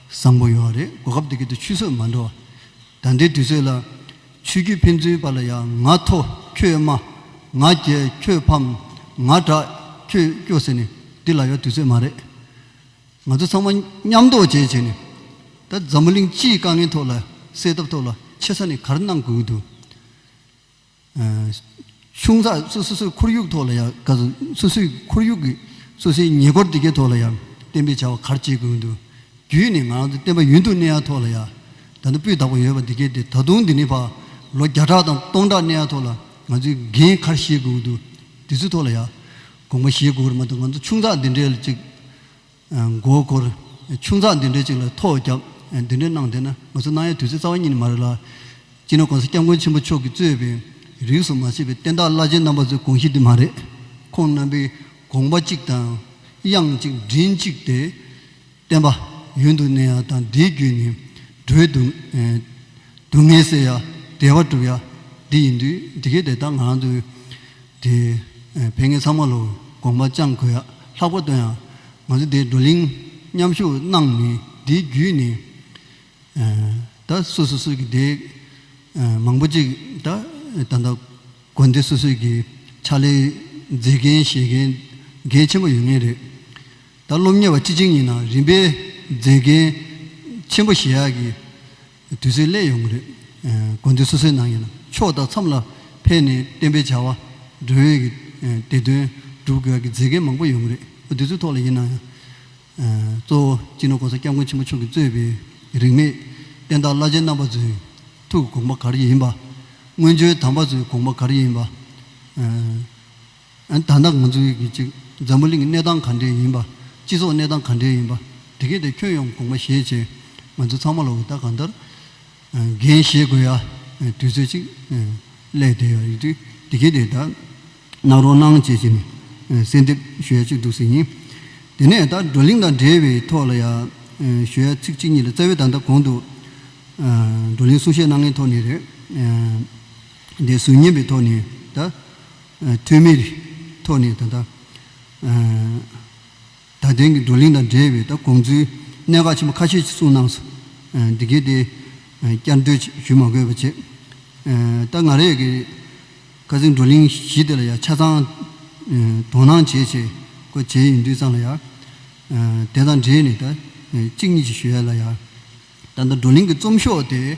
བཟང་པོ་ཡོད་བ་རེད་གོ་སྐབས་དེ་གི་དུས་ཆུད་ཟོས་མ་འགྲོ་བ་ད་ལྟའི་དུས་ཚོད་ལ་ཆོས་བརྒྱུད་ཕན་ཚུན་བར་ལ་ཡང་ང་མཐོ་ཁྱོད་དམའ་ང་རྒྱལ་ཁྱོད་ཕམ་ང་དྲག་ཁྱོད་སྐྱོ་ཟེར་ནས་འདི་ལ་ཡོད་དུས་ཚོད་མ་རེད། ང་ཚོ་ཚང་མ་མཉམ་དོགས་བཅས་བྱས་ནས་ད་འཛམ་བུ་གླིང་སྤྱིའི་དཀའ་ངལ་ཐོག་ལ་སེལ་ཐབས་ཐོག་ལ་ཆེ་ས་ནས་གར་གནང་དགོས་ཀྱི་འདུག་ཆུང་ས་སུ་སོ་སོའི་ཁོར་ཡུག་ཐོག་ལ་ཡང་ག་ཚོད་སོ་སོའི་ཁོར་ཡུག་གི་སོ་སོའི་ཉེ་འཁོར་དེ་གའི་ཐོག་ལ་ཡང་བསྟན་པའི་བྱ་བ་གར་བྱེད་དགོས་ཀྱི་འདུག་བརྒྱུད་ནས་ང་རང་ཚོ་བསྟན་པ་ཡུན་དུ་གནས་ཡ་ཐོག་ལ་ཡང་ད་ནི་སྤུས་དག་པོ་ཡོད་པ་འདི་གའི་དེ་ད་དུང་འདི་ནས་བར་ལོ་བརྒྱ་ཕྲག་དང་སྟོང་ཕྲག་གནས་ཡ་ཐོག་ལ་ང་ཚོའི་འགན་གར་བཞེས་དགོས་ཀྱི་འདུག་དེ་ཚོའི་ཐོག་ལ་ཡང་དགོངས་པ་བཞེས་དགོས་ཀྱི་རེད་མ་གཏོགས་ང་ཚོ་ཆུང་ས་འདི་འདྲའི་ལ་ཅིག། མགོ་བསྐོར། ཆུང་ཚགས་འདི་འདྲའི་ཅིག་ལ་ཐོག་བརྒྱབ། འདི་འདྲའི་གནང་དེ་ན་ང་ཚོ་གནང་ཡས་དུས་ཚོད་རྩ་བ་ཉིད་ནས་མ་རེད་ལ། སྤྱིར་ན་གོང་ས་སྐྱབས་མགོན་ཆེན་པོ་མཆོག་གིས་གཙོས་པའི་རིགས་སུ་མ་ཆད་པའི་བསྟན་བདག་བླ་ཆེན་རྣམ་པ་ཚོའི་དགོངས་གཞི་འདི་མ་རེད། ཁོང་རྣམ་པའི་དགོངས་པ་གཅིག་དང། དབྱངས་གཅིག་མགྲིན་གཅིག་སྟེ། བསྟན་པ། ཡུན་དུ་གནས་ཡ་དང་བདེའི་རྒྱུད་ནི། འགྲོའི་སྡུག། སྡུག་བསྔལ་སེལ་ཡ། བདེ་བ་སྒྲུབ་ཡ། འདི་ཡིན་དུས་འདི་གའི་དེ་ལྟར་ང་རང་ཚོའི། དེ། བན་ངེད་ཚང་མ་ལོ་དགོངས་པ་བཅང་དགོས་ཡག་ལྷག་པོ་སྟོན་ཡ། ང་ཚོ་དེའི་བགྲོ་གླིང་མཉམ་ཞུགས་གནང་མི་དེའི་རྒྱུས་ནི། ད་སུ་སུ་སུ་གི་དེ། མང་པོ་ཅིག་ད་ད་ལྟ་དགོན་སྡེ་སུ་སུ་གི་ཕྱག་ལས་མཛད་མཁན་བཞེས་མཁན་གལ་ཆེན་པོ་ཡོད་ངེས་རེད། ད་སློབ་གཉེར་བ་སྤྱི་གཅིག་གཉིས་ནང་རིམ་པས་མཛད་མཁན་ཆེན་པོ་བཞེས་ཡག་གི། དུས་ཚོད་སླད་ཡོང་གི་རེད། དགོན་སྡེ་སོ་སོའི་ནང་ཡིན་ན་ཕྱོགས་དང་མཚམས་ལ་ཕེབས་ནས་བསྟན་པའི་བྱ་བ། སྒྲོན་ཡོད་ཀྱི་དེ་དོན་སྒྲུབ་དགོས་ཀྱི་མཛད་མཁན་མང་པོ་ཡོང་གི་རེད། དུས་ཚོད་ཐོག་ལ་ཡིན་ན་ཡང། གཙོ་བོ་སྤྱི་ནོར ྋགོང་ས ྋསྐྱབས་མགོན་ཆེན་པོ་མཆོག་གིས་གཙོས་པའི་རིས་མེད་བསྟན་བདག་བླ་ཆེན་རྣམ་པ་ཚོའི་ཐུགས་དགོངས་པ་ག་རེ་ཡིན་པ། སྔོན་བྱོན་དམ་པ་ཚོའི་དགོངས་པ་ག་རེ་ཡིན་པ། ད་ལྟ་ང་ཚོའི་གི་ཅིག་འཛམ་བུ་གླིང་གི་གནས་སྟངས་ག་འདྲས་ཡིན་པ། སྤྱི་ཚོགས་གནས་སྟངས་ག་འདྲས་ཡིན་པ། དེ་གས་དེ་ཁྱོད་ཡོང་དགོངས་པ་བཞེས་བྱས། ང་ཚོ་ཚང་མ་ལ་འུར་རྟ་གང་ལྟར་འགན་བཞེས་དགོས་ཡ། དུས་ཚོད་ཅིག་སླད་དེ་ཡ་ཡིག་དྲིས་དེ་གས་དེ་ད་གནང་རོགས་གནང་བྱས་བྱས་ནས་གསལ་འདེབས་ཞུ་ཡ་གཅིག་འདུག་ཟེར་ཡིན། དེ་ནས་ད་བགྲོ་གླིང་དང་འབྲེལ་བའི་ཐོག་ལ་ཡ་ཞུ་ཡ་ཚིག་གཅིག་གཉིས་ལ་རྩ་བའི་ད་ལྟ་གོང་དུ་བགྲོ་གླིང་གསུང་བཤད་གནང་མཁན་ཐོག་ནས་རེད། འདི་གཟུགས་བརྙན་པའི་ཐོག་ནས་ད། ཐོན་མིའི་ཐོག་ནས་ད་ལྟ། ད་ཐེངས་ཀྱི་བགྲོ་གླེང་དང་འབྲེལ་བའི་ད་གོང་ཚུལ་གནད་འགག་ཆེན་པོ་ཁ་ཤས་ཀྱི་གསུངས་གནང་སོང། འདི་གའི་དེ་བསྐྱར་ཟློས་ཞུ་མ་དགོས་པ་བྱེད། ད་ང་རེ་གིས་ཁ་ཚིག་བགྲོ་གླེང་བཞི་དེ་ལ་ཡང་ཆ་ཚང་དོ་སྣང་བྱེད་ཆེད་སྐོར་བྱས་ཡིན་དུས་ཙམ་ལ་ཡང། དེ་དང་འབྲེལ་ནས་ད་གཅིག་གཉིས་ཅིག་ཞུ་ཡ་ལ་ཡང། ད་ལྟ་བགྲོ་གླེང་གི་རྩོམ་ཤོག་དེ།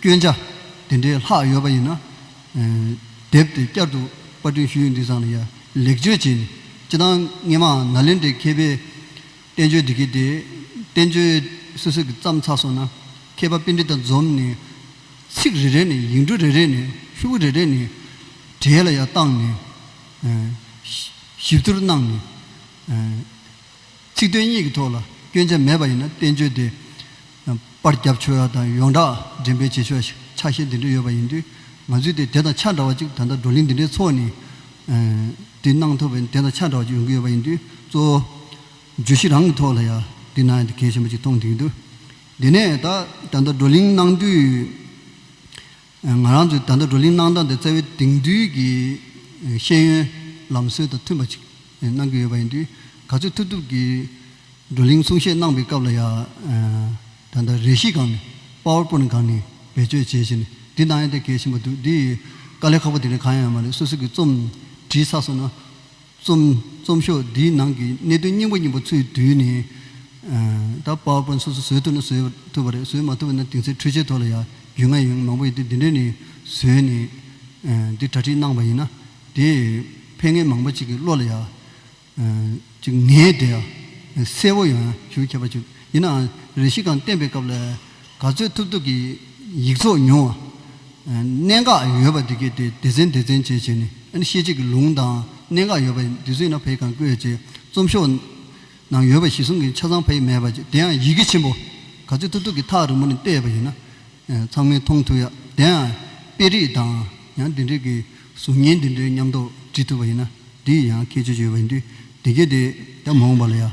སྐྱོན་ཆ་དེ་འདྲའི་ལྷག་ཡོད་པ་ཡིན་ན། དེབ་དེ་བསྐྱར་དུ་པར་སྐྲུན་ཞུ་ཡུལ་འདི་ཚང་ལ་ཡང་ལེགས་བཅོས་བྱས་ནས་སྤྱི་བཏང་ངེས་མ་ནཱ་ལེནྡྲའི་མཁས་པས་བསྟན་བཅོས་འབྲི་གི་དེ་བསྟན་བཅོས་སུད་སི་གི་བརྩམས་ཚར་སོང་ན་མཁས་པ་པིན་དྲི་དང་འཛོམས་ནས་ཚིག་རེ་རེ་ནས་ཡིག་འབྲུ་རེ་རེ་ནས་ཤུ་བོ་རེ་རེ་ནས་གྲས་ལ་ཡང་བཏང་ནས་ཞིབ་བསྡུར་གནང་ནས། ཚིག་དོན་གཉིས་ཀྱི་ཐོག་ལ་སྐྱོན་ཆ་མེད་པ་ཡིན་ན་བསྟན་བཅོས་དེ་པར་རྒྱབ་ཆོས་ར་དང་ཡོངས་གྲགས་འགྲེམས་སྤེལ་བྱེད་ཆོག་ཆ་ཤས་འདི་འདྲ་ཡོད་པ་ཡིན་དུས་ང་ཚོས་དེ་དེ་དང་ཆ་འདྲ་བ་ཅིག་ད་ལྟ་བགྲོ་གླེང་འདི་འདྲའི་ཚོགས་ནས་དེ་གནང་ཐུབ་པས་དེ་དང་ཆ་འདྲ་བ་ཅིག་ཡོང་གི་ཡོད་པ་ཡིན་དུས་གཙོ་བོ་བརྗོད་གཞི་རང་གི་ཐོག་ལ་ཡང་འདི་ན་གལ་ཆེན་པོ་ཅིག་མཐོང་ཐུབ་ཀྱི་འདུག་དེ་ནས་ད་ལྟ་བགྲོ་གླེང་གནང་དུས། ང་རང་ཚོས་ད་ལྟ་བགྲོ་གླེང་གནང་སྟངས་དེ་རྩ་བའི་དེང་དུས་ཀྱི་ཤེས་ཡོན་ལམ་སྲོལ་དང་མཐུན་པ་ཅིག་གནང་གི་ཡོད་པ་ཡིན་དུས་ག་ཚོད་ཐུབ་ཐུབ་ཀྱིས་བགྲོ་གླེང་གསུང་བཤད་གནང་པའི་སྐབས་ལ་ཡང་ད་ལྟ་རས་གཞི་གང་ནས Power Point གང་ནས་བེད་སྤྱོད་བྱས་བྱས་ནས་འདི་གནང་ཡ་དེ་གལ་ཆེན་པོ་འདུག་འདི་ཡི་དཀའ་ལས་ཁག་པོ་དེ་ནི་གང་ཡང་མ་རེད་སོ་སོ་གི་རྩོམ་བྲིས་ཚར་སོང་ན། རྩོམ། རྩོམ་ཤོག་འདིའི་ནང་གི་གནད་དོན་སྙིང་པོ་གཉིས་པོ་ཚུད་དུས་ནས། ད power point སོ་སོ་བཟོས་ཐུབ་ན་བཟོས་ཐུབ་པ་རེད་བཟོས་མ་ཐུབ་པ་ན་དེང་སའི་འཕྲུལ་ཆས་ཐོག་ལ་ཡང་རྒྱུས་མངའ་ཡོད་མང་པོ་ཡོད་དེ་འདི་འདྲས་ནས་བཟོས་ནས་འདི་གྲ་སྒྲིག་གནང་བ་ཡིན་ན་དེས་ཕན་ངེས་མང་པོ་གཅིག་གི་བློ་ལ་ཡང་གཅིག་ངེས་དེ་ཡང་གསལ་བོ་ཡོང་ཞུ་ཁྱབ་པ་བྱུག་ཡིན་ནའང་རེ་ཞིག་གང་བསྟན་པའི་སྐབས་ལ། ག་ཚོད་ཐུབ་ཐུབ་ཀྱིས་ཡིག་ཚོགས་ཉུང་བ། གནད་འགག་ཡོད་པ་འདི་གའི་སྟེང་སྡེ་ཚན་སྡེ་ཚན་བྱས་བྱས་ནས་ཨ་ནི་ཤེས་བྱེད་ཀྱི་ལུང་དང་གནད་འགག་ཡོད་པ་འདི་ཚོས་ན་ཕའི་གང་བཀོད་བྱས་རྩོམ་ཤོག་ནང་ཡོད་པ་བཞི་གསུམ་གྱི་ཆ་ཚང་ཕ་ཡིག་མེད་པ་དེ་ཡང་ཡི་གེ་ཆེན་པོ་ག་ཚོད་ཐུབ་ཐུབ་ཀྱིས་ཐག་རིང་པོ་ནས་བལྟས་པ་ཡིན་ན་ཚང་མས་མཐོང་ཐུབ་ཡ་དེ་ཡང་དཔེ་རིས་དང་ཡང་དེ་འབྲེལ་གྱི་གཟུགས་བརྙན་འདི་འདྲའི་ཉམས་རྟོགས་འབྲི་ཐུབ་པ་ཡིན་ན་འདི་ཡི་ཡང་ཁྱད་ཆོས་ཡོད་པ་ཡིན་དུས་དེ་གས་དེ་ད་མ་འོངས་པ་ལ་ཡང།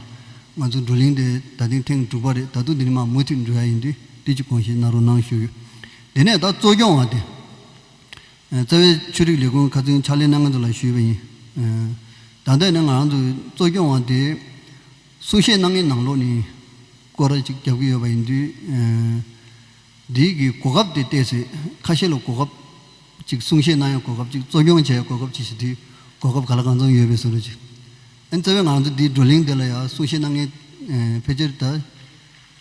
ང་ཚོ་བགྲོ་གླེང་དེ་ད་ཐེངས་ཐེངས་དྲུག་པ་རེད་ད་དུང་འདི་ནས་མ་མུ་མཐུད་འབྲི་ཡ་ཡིན་དུས་དེ་ཅི་གང་ཞིག་གནང་རོགས་གནང་ཞུ། དེ་ནས་ད་གཙོ་སྐྱོང་བ་དེ། རྩ་བའི་ཆོས་རིག་ལས་ཁུངས་ཁ་ཚོན་ཕྱག་ལས་གནང་མཁན་ཚོ་ལ་ཞུས་པ་ཡིན། ད་ལྟ་ནི་ང་རང་ཚོ་གཙོ་སྐྱོང་བ་དེ། གསུང་བཤད་གནང་མཁན་ནང་ལོགས་ནས་སྐོར་ར་ཅིག་རྒྱབ་ཀྱི་ཡོད་པ་ཡིན་དུས། འདི་གའི་གོ་སྐབས་དེ་བལྟས་ཚེ་ཁ་ཤས་ལ་གོ་སྐབས་གཅིག་གསུང་བཤད་གནང་ཡང་གོ་སྐབས་གཅིག་གཙོ་སྐྱོང་བྱས་ཡང་གོ་སྐབས་གཅིག་ཞེས་དུས་གོ་སྐབས་ག་ལ་གང་འཚམས་ཡོད་པའི་ཟུར་རུ་གཅིག་ཨེ་འཚལ་བས་ང་ཚོ་འདིའི་བགྲོ་གླེང་འདི་ལ་ཡང་གསུང་བཤད་གནང་མཁན་ཕལ་ཆེར་དུ་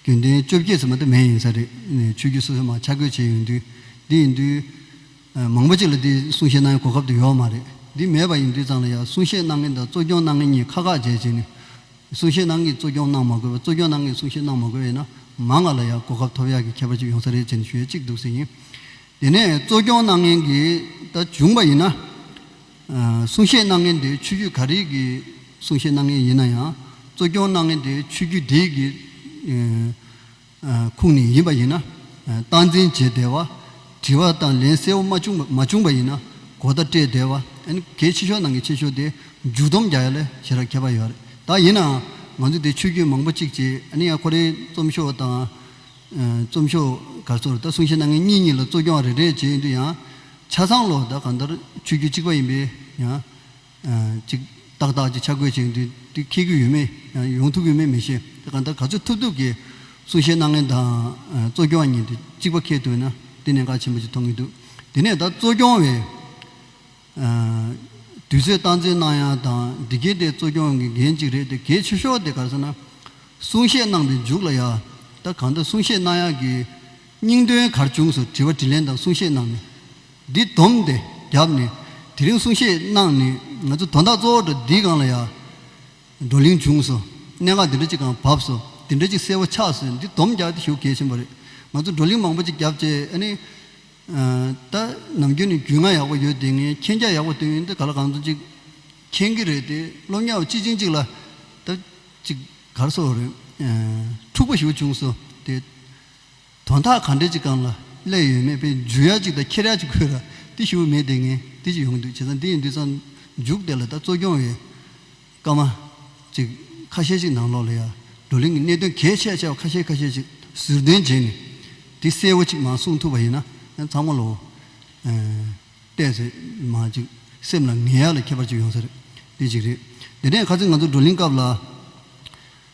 རྒྱུན་ལྡན་བཅོ་བརྒྱད་ཚང་མ་དེ་མེད་ཡིན་ས་རེད་ཆོས་བརྒྱུད་སོ་སོས་མང་ཆ་བགོས་བྱས་ཡོད་དུས་འདི་ཡིན་དུས། མང་པོ་ཅིག་ལ་འདིའི་གསུང་བཤད་གནང་ཡང་གོ་སྐབས་དེ་ཡོད་མ་རེད་འདི་མེད་པ་ཡིན་དུས་ཙང་ལ་ཡང་གསུང་བཤད་གནང་མཁན་དང་གཙོ་སྐྱོང་གནང་མཁན་གཉིས་ཁ་ཁ་འཇལ་བྱས་ནས། གསུང་བཤད་ནང་གི་གཙོ་སྐྱོང་གནང་མ་དགོས་པར་གཙོ་སྐྱོང་ནང་གི་གསུང་བཤད་གནང་མ་དགོས་ཡིན་ན་མ་ང་ལ་ཡང་གོ་སྐབས་ཐོབ་ཡག་གི་ཁྱད་པར་ཅིག་ཡོང་ས་རེད་ཅེས་ནས་ཞུ་ཡས་གཅིག་འདུག་ཟེར་ཡིན། དེ་ནས་གཙོ་སྐྱོང་གནང་མཁན་གྱི་ད་བྱུང་པ་ཡིན་ན། གསུང་བཤད་གནང་མཁན་དེའི་ཆོས་བརྒྱུད་ག་རིགས་ཀྱི་གསུང་བཤད་གནང་མཁན་ཡིན་ན་ཡང་གཙོ་སྐྱོང་གནང་མཁན་དེའི་ཆོས་བརྒྱུད་དེའི་གི། ཁུངས་ནས་ཡིན་པ་ཡིན་ན། སྟངས་འཛིན་བྱས་བསྡད་པ། དྲི་བ་དང་ལན་གསལ་བོ་མ་བྱུང་མ་བྱུང་པ་ཡིན་ན། གོ་བརྡ་སྤྲད་བསྡད་པ། གལ་ཆེ་ཤོས་ནང་གི་ཆེ་ཤོས་དེ་མཇུག་བསྡོམས་རྒྱག་ཡ་ལས་བྱེད་ར་ཁྱད་པར་ཡོད་རེད་ད། ཡིན་ནའང་ང་ཚོས་དེ་ཆོས་བརྒྱུད་མང་པོ་གཅིག་བྱས་ཨ་ནི་ཡང་ཁོ་རེའི་རྩོམ་ཤོག་དང། རྩོམ་ཤོག་ག་ཚོར་ད་གསུང་བཤད་གནང་མཁན་གཉིས་གཉིས་ལ་གཙོ་སྐྱོང་རེ་རེ་བྱས་ཡོད་དུས་ཡང། ཆ་ཚང་ལོ་ད་གང་ལྟར་ཆོས་བརྒྱུད་གཅིག་པ་ཡིན་པས་ཡང། ཅིག། ཏག་ཏག་ཅིག་ཆ་བགོས་བྱས་འདུག་དེ་ཁེལ་གྱི་ཡོད་མེད་ཡང་ཡོང་ཐུབ་ཀྱི་མེད་མི་ཤེས། དེ་གང་ལྟར་ག་ཚོད་ཐུབ་ཐུབ་ཀྱིས་གསུང་བཤད་གནང་མཁན་དང། གཙོ་སྐྱོང་གཉིས་དེ་གཅིག་པ་ཁེལ་ཐུབ་ན་དེ་གནད་འགག་ཆེན་པོ་ཞིག་མཐོང་གི་འདུག་དེ་ནས་ད་གཙོ་སྐྱོང་བས། དུས་ཚོད་སྟངས་འཛིན་གནང་ཡག་དང་འདི་གལ་ཏེ་གཙོ་སྐྱོང་གི་འགན་གཅིག་རེད་དེ་གལ་ཆེ་ཤོས་དེ་ག་ཚོད་ན། གསུང་བཤད་གནང་པའི་མཇུག་ལ་ཡང། ད་གང་ལྟར་གསུང་བཤད་གནང་ཡག་གི། སྙིང་དོན་གར་བྱུང་སོགས་དྲི་བ་དྲིས་ལན་དང་གསུང་བཤད་གནང་ནས། འདི་བསྡོམས་ཏེ་བརྒྱབ་ནས་དེ་རིང་གསུང་བཤད་གནང་ནས་ང་ཚོ་དོན་དག་གཙོ་བོ་འདྲ་འདི་གང་ལ་ཡག། བགྲོ་གླེང་བྱུང་སོ། གནད་འགག་འདི་འདྲ་ཅིག་གང་བབས་སོ། འདི་འདྲ་ཅིག་གསལ་བོ་ཆགས་སོས་འདི་བསྡོམས་བརྒྱབ་སྟེ་ཞུ་གལ་ཆེན་པོ་རེད། ང་ཚོ་བགྲོ་གླེང་མང་པོ་ཅིག་བརྒྱབ་རྗེས་ཨ་ནི། ད་ནམ་རྒྱུན་ནས་རྒྱུས་མངའ་ཡག་པོ་ཡོད་དེ་ངས་མཁྱེན་རྒྱ་ཡག་པོ་བཏོན་ཡོད་འདི་ག་ལ་གང་མཚུངས་ཅིག་མཁྱེན་གི་རེད་དེ་སློབ་གཉའ་བོ་སྤྱི་ཆིངས་ཅིག་ལ། ད་ཅིག་གར་སོགས་རེད། འཁྲུག་པོ་ཞུ་བྱུང་སོ་དེ། དོན་དག་གང་འདྲས་ཅིག་གང་ལ་སླད་ཡོད་མེད་པའི་འཇུ་ཡག་ཅིག་དང་ཁྱེར་ཡག་ཅིག་ཁོས་ར་ཏི་ཤི་བོ་མེད་དེ་ངས་ཏི་ཅི་ཡོང་འདུག་བྱས་ཙང་འདི་ཡིན་དུས་ཙང་འཇུག་དེ་ལ་ད་གཙོ་སྐྱོང་བའི་སྐར་མ་ཅིག་ཁ་ཤས་ཅིག་ནང་ལོགས་ལ་ཡར་བགྲོ་གླེང་གི་གནད་དོན་གལ་ཆེ་ཆེ་བ་ཁ་ཤས་ཁ་ཤས་ཅིག་ཟུར་འདོན་བྱས་ནས་དེ་གསལ་བོ་ཅིག་མ་གསུང་ཐུབ་པ་ཡིན་ན་ཚང་མ་ལ་འོ་བལྟས་ཚོད་མ་ཅིག་སེམས་ལ་ངལ་ཡག་ལ་ཁྱད་པར་ཅིག་ཡོང་ས་རེད་འདི་ཅིག་རེད་དེ་ནས་ཁ་ཚིག་ང་ཚོ་བགྲོ་གླེང་སྐབས་ལ།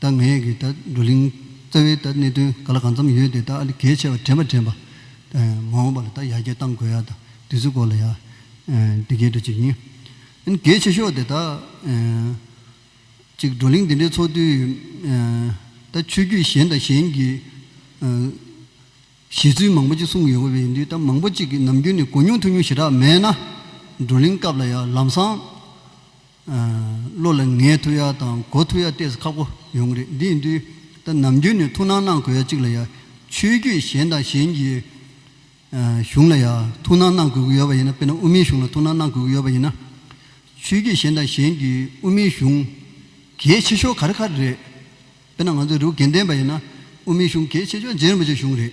ད་ངས་ཀྱི་ད་བགྲོ་གླིང་རྩ་བའི་ད་གནད་དོན་ག་ལ་གང་འཚམས་ཡོད་དེ་ད་ཨ་ལི་གས་ཆེ་བ་དྲན་པ་དྲན་པ། མ་འོངས་པ་ལ་ད་ཡར་རྒྱས་གཏང་དགོས་ཡག་ད་དུས་ཚོད་སྐོར་ལ་ཡག་འདི་གས་འགྲོ་ཅིག་ཡིན། ཨན་གས་ཆེ་ཤོག་དེ་ད། ཅིག་བགྲོ་གླིང་འདི་འདྲའི་ཚོགས་དུས། ད་ཆོས་རྒྱུད་གཞན་དང་གཞན་གྱི། བཞེད་ཚུལ་མང་པོ་ཅིག་གསུངས་ཡོད་པ་ཡིན་དུས་ད་མང་པོ་ཅིག་གི་ནམ་རྒྱུན་ནས་གོ་མྱོང་ཐུབ་མྱོང་ཞེ་དྲག་མེད་ན། བགྲོ་གླིང་སྐབས་ལ་ཡག་ལམ་སང། བློ་ལ་ངའི་ཐུགས་ཡག་དང་གོ་ཐུགས་ཡག་བལྟས་ཚེ་ཁག་པོ་ཡོང་གི་རེད་འདི་ཡིན་དུས་ད་ནམ་རྒྱུན་ནས་ཐུགས་སྣང་གནང་དགོས་ཡ་གཅིག་ལ་ཡ་ཆོས་རྒྱུད་གཞན་དང་གཞན་གྱི་གཞུང་ལ་ཡ་ཐུགས་སྣང་གནང་དགོས་ཀྱི་ཡོད་པ་ཡིན་ན་དཔེར་ན་དབུ་མའི་གཞུང་ལ་ཐུགས་སྣང་གནང་དགོས་ཀྱི་ཡོད་པ་ཡིན་ན་ཆོས་རྒྱུད་གཞན་དང་གཞན་གྱི་དབུ་མའི་གཞུང་གལ་ཆེ་ཤོས་ག་རེ་ག་རེ་རེད་དཔེར་ན་ང་ཚོ་རི་བོ་དགེ་ལྡན་པ་ཡིན་ན་དབུ་མའི་གཞུང་གལ་ཆེ་ཤོས་རྗེ་རིན་པོ་ཆེ་གཞུང་རེད་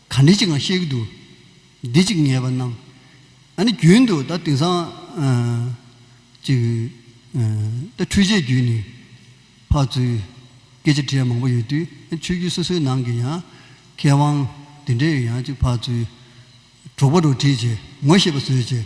ག་འདི་ཅིགའང་ཤེས་ཀྱི་འདུག། འདི་ཅིག་ངེས་པར་སྣང། ཨ་ནི་རྒྱུན་དུ་ད་དེང་སང། ཅིག། ད་འཕྲུལ་ཆས་བརྒྱུད་ནས། ཕར་ཚུར། སྐད་ཆ་དྲིས་ཡ་མང་པོ་ཡོད་དུས་ཆོས་བརྒྱུད་སོ་སོའི་ནང་གི་ཡང། མཁས་དབང། དེ་འདྲས་ཡང་ཅིག་ཕར་ཚུར། གྲོགས་པོ་རོ་བྲིས་བྱས། ངོ་ཤེས་པ་བཟོས་བྱས།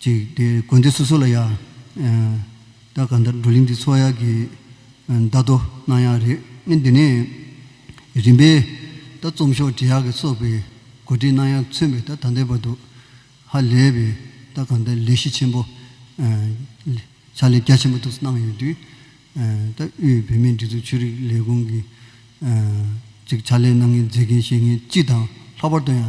ཅིག་དེ་དགོན་སྡེ་སོ་སོ་ལ་ཡང། ད་ག་འདྲ་འགྲོ་གླིང་འདི་ཚོ་ཡག་གི། བརྡ་ཐོ་གནང་ཡག་རེད་ཨེ་འདི་ནས། རིམ་པས། ད་རྩོམ་ཤོག་དྲི་ཡག་གི་སོགས་པའི། གོ་སྒྲིག་གནང་ཡག་མཚོན་པའི་ད་ད་འདེད་པ་འདུག། ཧ་ལས་པའི། ད་ག་འདྲ་ལས་གཞི་ཆེན་པོ། ཕྱག་ལས་རྒྱ་ཆེན་པོ་དུ་གནང་ཡོད་དུས། ད་དབུས་བོད་མིའི་སྒྲིག་འཛུགས་ཆོས་རིག་ལས་ཁུངས་ཀྱི། ཅིག་ཕྱག་ལས་གནང་མཁན་མཛད་མཁན་བཤད་མཁན་སྤྱི་དང་ལྷག་པར་དུ་ཡང།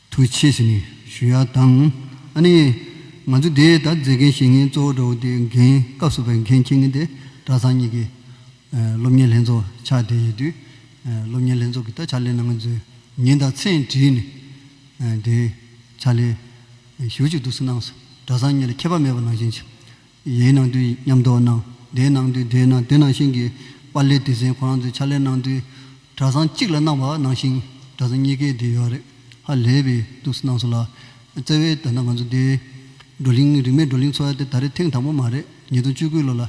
ཐུགས་ཆེ་ཞེས་ནི་ཞུ་ཡ་དང། ཨ་ནི། ང་ཚོས་དེ་ལྟར་མཛད་མཁན་བཤད་མཁན་གཙོ་བོ་འདྲ་བོ་དེ་འགན་སྐབས་སུ་བས་མཁན་མཁྱེན་མཁན་དེ་གྲྭ་ཚང་གཉིས་ཀྱི། སློབ་གཉེར་ལྷན་ཚོགས་ཕྱག་བསྟེན་ཡོད་དུས། སློབ་གཉེར་ལྷན་ཚོགས་ཀྱི་ད་ཕྱག་ལས་གནང་མཁན་ཚོའི་མྱིང་དང་མཚན་བྲིས་ནས། དེའི་ཕྱག་ལས། ཞུ་གཅིག་ཏུ་སུ་གནང་སོ་གྲྭ་ཚང་གཉིས་ལ་ཁྱད་པར་མེད་པར་ནང་བཞིན། ལས་གནང་དུས་ཉམས་རྟོགས་གནང། སྡེ་གནང་དུས་སྡེ་གནང་སྡེ་ནང་ཞིང་གི་པར་ལས་དུས་ཟན་ཁོ་རང་ཚོའི་ཕྱག་ལས་གནང་དུས་གྲྭ་ཚང་གཅིག་ལ་གནང་བ་ནང་ཞིང་གྲྭ་ཚང་གཉིས་ཀའི་སྡེ་ཡོད་རེད་ཧ་ལས་པའི་ཐུགས་སུ་གནང་སོང་ལ། བརྩེ་བའི་ད་ལྟ་ང་ཚོ་སྡེའི་བགྲོ་གླིང་རིག་མེད་བགྲོ་གླིང་འཚོ་བ་དེ་ད་རེས་ཐེངས་དང་པོ་མ་རེད་ཉིས་སྟོང་བཅུ་དགུ་ལོ་ལ།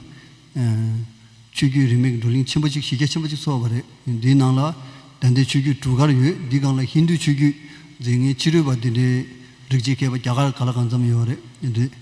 ཆོས་རྒྱུད་རིག་མེད་ཀྱི་བགྲོ་གླིང་ཆེན་པོ་གཅིག་གཞི་རྒྱ་ཆེན་པོ་གཅིག་འཚོགས་པ་རེད་འདིའི་ནང་ལ་དད་ལྡན་ཆོས་རྒྱུད་གྲུ་གར་ཡོད་འདིའི་སྒང་ལ་ཧིན་དུའི་ཆོས་རྒྱུད་རྫས་ངན་ཕྱི་རོལ་པ་དེ་འདྲའི་རིགས་གཅིག་མཁས་པ་རྒྱ་གར་ག་ལ་གང་འཚམས་ཡོད་རེད་འདི།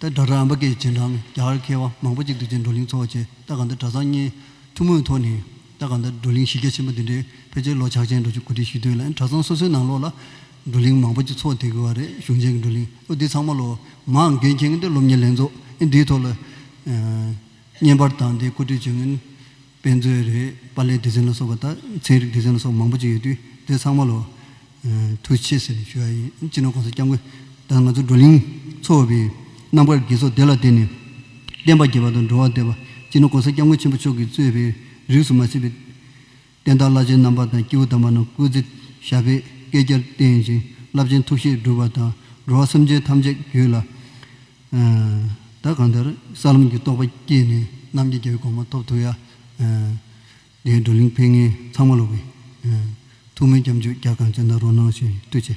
ད་གྲྭ་ཁྲ་ཨམ་པ་ཀའི་རྗེས་འབྲང་རྒྱ་གར་མཁས་པ་མང་པོ་གཅིག་ཏུ་བཅས་བགྲོ་གླེང་ཚོགས་ཆེད་ལྟ་ག་འདི་གྲྭ་ཚང་གཉིས་ཐུན་མོང་ཐོག་ནས་ལྟ་ག་འདི་བགྲོ་གླེང་གཞི་རྒྱ་ཆེན་པོ་འདི་འདྲའི་ཕལ་ཆེར་ལོ་ཕྱག་ཆེན་འགྲོ་ཆུ་གོ་ཁྲིད་ཞུས་དོན་ལ་གྲྭ་ཚང་སོ་སོའི་ནང་ལོགས་ལ་བགྲོ་གླེང་མང་པོ་གཅིག་ཚོགས་དེ་དགོས་བ་རེད་གཞུང་ཆེན་གྱི་བགྲོ་གླེང་ཨོ་འདི་ཚང་མ་ལོ་མང་འགན་འཁྱེར་ངེས་འདི་སློབ་གཉེར་ལྷན་ཚོགས་ཨེ་འདིའི་ཐོག་ལ་བརྙན་པར་དང་འདི་བཀོད་སྒྲིག་བྱེད་ངེས། དཔེ་མཛོད་རེད། པ་ལས་སྡེ་ཚན་ལ་སོགས་པ་དང་ཚན་རིག་སྡེ་ཚན་ལ་སོགས་པ་མང་པོ་ཅིག་ཡོད་དུས་དེ་ཚང་མ་ལོ། ཐུགས་ཆེ་ཟེར་ནས་ཞུ་བ་ཡིན། སྤྱི་ནོར ྋགོང་ས ྋསྐྱབས་མགོན་དང་ང་ཚོ་བགྲོ་གླིང་ཚོགས་པའི་རྣམ་དཀར་དགེ་ཚོགས་སྡེ་ལ་བརྟེན་ནས་བསྟན་པ་རྒྱས་པ་དང་འགྲོ་བ་བདེ་བ་སྤྱི་ནོར ྋགོང་ས ྋསྐྱབས་མགོན་ཆེན་པོ་མཆོག་གིས་གཙོས་པའི་རིགས་སུ་མ་ཟིན་པའི་བསྟན་བདག་བླ་ཆེན་རྣམ་པ་དང་སྐྱེས་བུ་དམ་པ་རྣམས་སྐུ་ཚེ་ཞབས་པད་བསྐལ་བརྒྱར་བརྟན་ཅིང་རླབས་ཆེན་ཐུགས་བཞེད་འགྲུབ་པ་དང་འགྲོ་བ་སེམས་ཅན་ཐམས་ཅད་རྒྱུད་ལ་བདག་གང་དེར་ས་ལམ་གྱི་རྟོགས་པ་སྐྱེས་ནས་རྣམ་རྒྱལ་རྒྱལ་བའི་དགོངས་མ་ཐོབ་ཐུགས་ཡར་ལྡན་བགྲོ་གླེང་ཕན་ངན་ཚང་མ་བླུགས། ཐུགས་སྨོན་སྐྱབས་འཇུག་རྒྱ་གང་ཅན་དང་རོ་སྣང་ཞིང་བརྟུལ་ཆེ།